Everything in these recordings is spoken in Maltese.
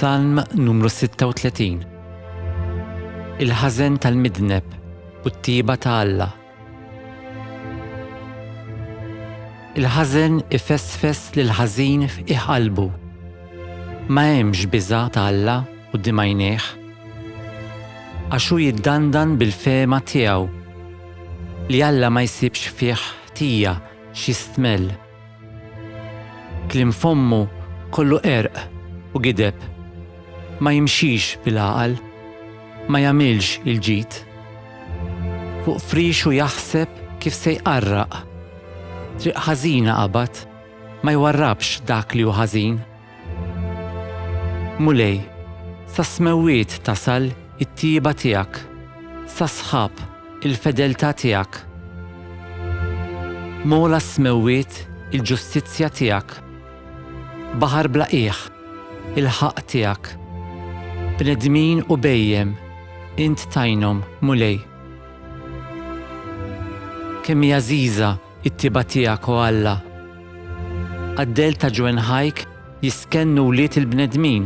Salm numru 36 Il-ħażen tal-midneb u t-tiba ta' Alla. Il-ħażen ifessfess lil ħażin f'qiegħ qalbu. Ma hemmx biża' ta' Alla u dimajnejh. Għax hu jiddandan bil-fehma tiegħu li Alla ma jsibx fih ħtija xi stmell. Kliem fommu kollu qerq u gideb, ma jimxix bil-għaqal, ma jagħmilx il-ġid. Fuq frixu jaħseb kif se jqarraq, triq ħażina qabad, ma jwarrabx dak li hu ħażin. Mulej, sas-smewwiet tasal it-tjieba tiegħek, sas-sħab, il-fedeltà tiegħek. M'ogħla s-smewwiet il-ġustizzja tiegħek. Baħar bla qiegħ, il-ħaqq tiegħek. Bnedmin u bhejjem, int tgħinhom, Mulej. Kemm hi għażiża It-tjieba tiegħek, o Alla! Qaddejl ta' ġwenħajk jistkennu wlied il-bnedmin.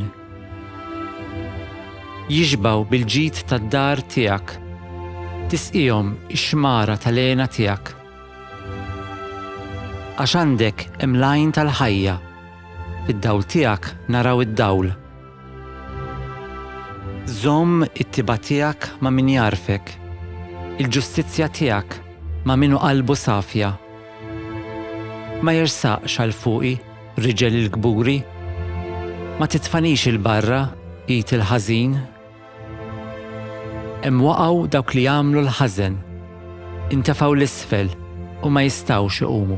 Jixbgħu bil-ġid tad-dar tiegħek. Tisqihom ix-xmara tal-hena tiegħek. Għax għandek hemm l-għajn tal-ħajja. Fid-dawl tiegħek naraw id-dawl. Żomm it-tibgħa tiegħek ma' min jagħrfek, il-ġustizzja tiegħek ma' min hu qalbu safja. Ma jersaqx għal fuqi riġel il-kburi, ma titfanix 'il barra id il-ħażin. Hemm waqgħu dawk li għamlu l-ħażen, intefgħu 'l isfel u ma jistgħux iqumu.